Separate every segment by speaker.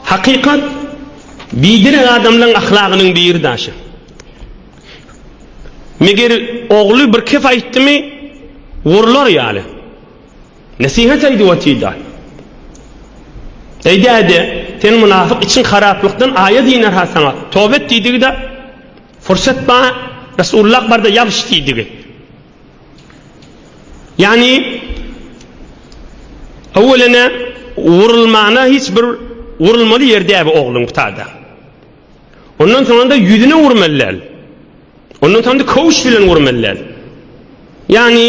Speaker 1: Hakykat, biderek adamlaň ahlagynyň bir daşy. Meger ogly bir kep aýtdymy, urlar ýaly. Nesihat aýdyp otyda. Eý däde, sen mynafyk içiň haraplykdan aýat iner-ha saňa, toba et diýdigi-da, fursat bar, Resulullah barda ýabyş diýdigi. Ýagny, öwelene urulmana hiç bir urulmaly ýeri däbi ogluň ptada. Ondan soňanda ýüzüne urmaly däl. Ondan soňanda köwüş bilen urmaly däl. Ýagny,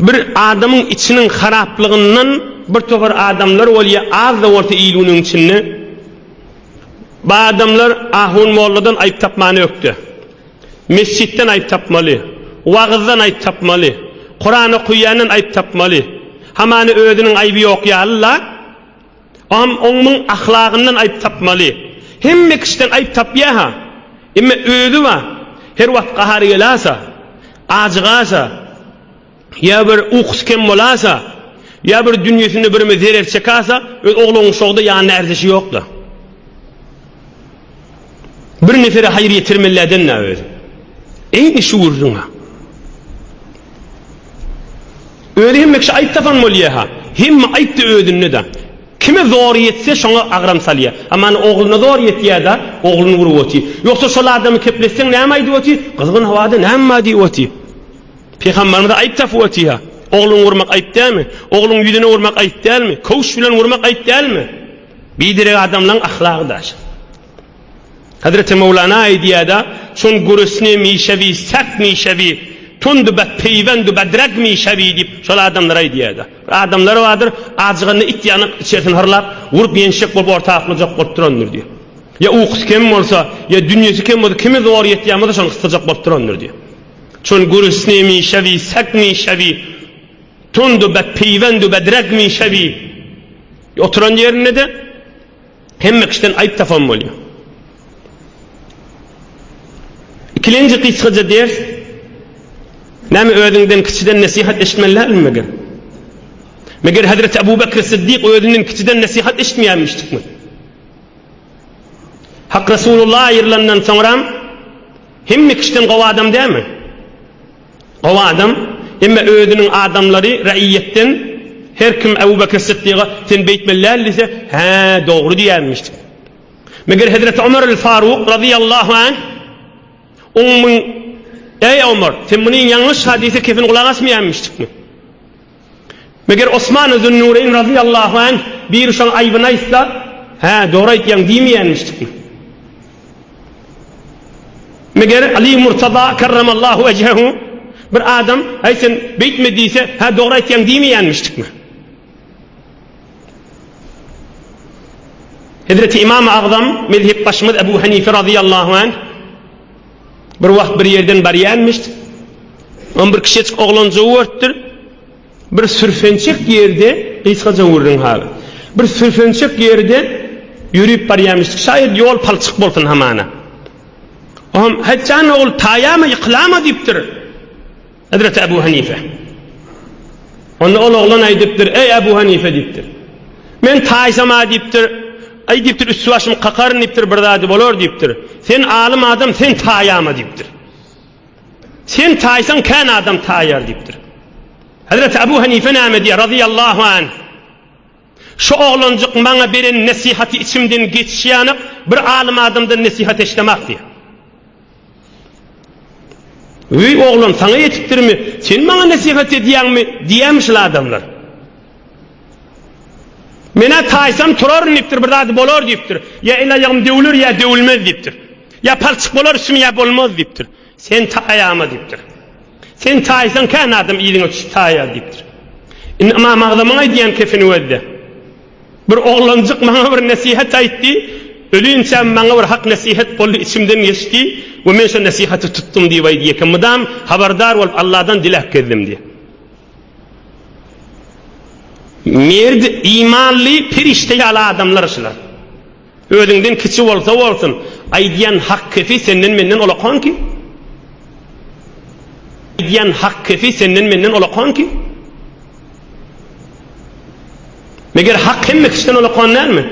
Speaker 1: bir adamyň içiniň haraplygyndan bir topar adamlar bolýa, az-da bolsa ýylunyň içinde. Bu adamlar ahun molladan aýyp tapmany ökde. Mesjitden aýp tapmaly. Wagyzdan aýp tapmaly. Kuran okuýandan aýp tapmaly. Hamany özüniň aýby ýok ýaly-la. Oňam oňmuň ahlagyndan aýp tapmaly. Hemme kişiden aýp tapýa-ha. Emme özi-wa, her wagt gahary gelasa, ajygasa. Ýa bir ukusy kem bolasa, ýa bir dünýesinde birime zerer çekasa, öz ogluň şogda ýanyna ärdişi ýok-la. Bir nesere haýyr ýetirmeli eden-ä özi. Eýni şu gürrüň-ä. Özi hemme kişi aýp tapan bolýa-ha. Hemme aýp-da özünde-de. Kime zor ýetse, şoňa agram salýa. Aman ogluna zor ýetýä-da, ogluny urup otyr. Ýogsa şol adamy kepletseň näme aýdyp otyr? Gyzgyn howada näme bar diýip otyr. Pygamberimize aýyp tapyp otyha. Ogluňy urmak aýyp dälmi? Ogluň ýüzüne urmak aýyp dälmi? Köwş bilen urmak aýyp dälmi? Biderek adamlaň ahlagy daş. Hazreti Mowlana aýdýada, Çün gurisni mişevi sert mişevi, tundu bet peývendu bedreg mişevi diýip, şol adamlara aýdýada. Bir adamlar bardyr, ajyganda it ýanyk içerisini hyrlap, urup ýençjek bolup orta aklajak bolup durandyr diýip. Ýa ukusy kem bolsa, ýa dünýesi kem bolsa, kimi zor ýetýän bolsa şony gysdyrjak bolup durandyr diýip. Çün gürüsni mişewi, sek mişewi, tundu bet piwendu bedrek mişewi. Oturan ýerinde-de hemme kişiden aýyp tapan bolýar. Ikilenji gysgaja ders, Näme özüňden kiçiden nesihat eşitmeli dälmi meger? Meger Hezreti Abu Bekr Siddik özünden kiçiden nesihat eşitmeýärmişdikmi? Hak Resulullah aýrylandan soňram hemme kişiden gowy adam dälmi? Gowy adam, emma özüniň adamlary, raýýetden her kim Abu Bakr Siddiga sen beýtmeli däl diýse, hä, dogry diýermiş. Meger Hezreti Omar el Faruk razyýallahu anh oňmyň Eý Omar, sen muny ýalňyş hadysa kesin gulak asmaýanmyşdykmy? Meger Osman Zünnûreýn razyýallahu anh biri şoň aýbyny aýtsa, Hä, dogry aýtýaň diýmeýänmişdikmi? Meger Aly Murtaza kerremallahu wejhehu bir adam, Häý, sen beýtme diýse, Hä, dogry aýtýaň diýmeýänmişdikmi? Hezreti Ymam-y Agzam, mezhepbaşymyz Ebu Henife razyýallahu anh, Bir wagt bir ýerden barýanmyşdy. On bir kişejik oglanjygy görüpdir. Bir sürfençek ýerde, gysgaja gürrüň haly. Bir sürfençek ýerde ýörüp barýanmyşdy. Şaýat ýol palçyk bolsun hamana. Oňam, Haýt jan ogul, taýama, ýykylama diýipdir. Hezreti Ebu Hanife. Onda ol oglan aýdypdyr, Eý, Ebu Hanife! diýipdir. Men taýsam-a diýipdir. Aý, diýipdir, üsti-başymy kakaryn diýipdir, bir zady bolar diýipdir. Sen alym adam, sen taýama diýipdir. Sen taýsaň, kän adam taýar diýipdir. Hezreti Ebu Hanife näme diýýär, razyýallahu anh? Şu oglanjyk maňa beren nesihaty içimden geçiş ýanyk bir alym adamdan nesihat eşdemak diýýä. Öý oglan saňa ýetipdirmi, sen maňa nesihat edýäňmi diýýämi şul adamlar. Men-ä taýsam turaryn diýipdir, bir zady bolar diýipdir. Ýa el-aýagym döwler ýa döwülmez diýipdir. Ýa palçyk bolar üstüme ýa bolmaz diýipdir. Sen taýama diýipdir. Sen taýsaň kän adam yzyňa çüp taýýar diýipdir. Indi Ymam Agzamyň aýdýan kefini gözle. Bir oglanjyk maňa bir nesihat aýtdy, ölinçä maňa bir hak nesihat boldy, içimden geçdi we men şo nesihaty tutdum diýip aýdýar eken. Mydam habardar bolup Alladan diläp gezdim diýýär. Merd, imanly, perişde ýaly adamlar şular. Özüňden kiçi bolsa bolsun, aýdýan hak kefi senden menden olakan ki. Aýdýan hak kefi senden menden olakan ki. Meger hak hemme kişiden olakan dälmi?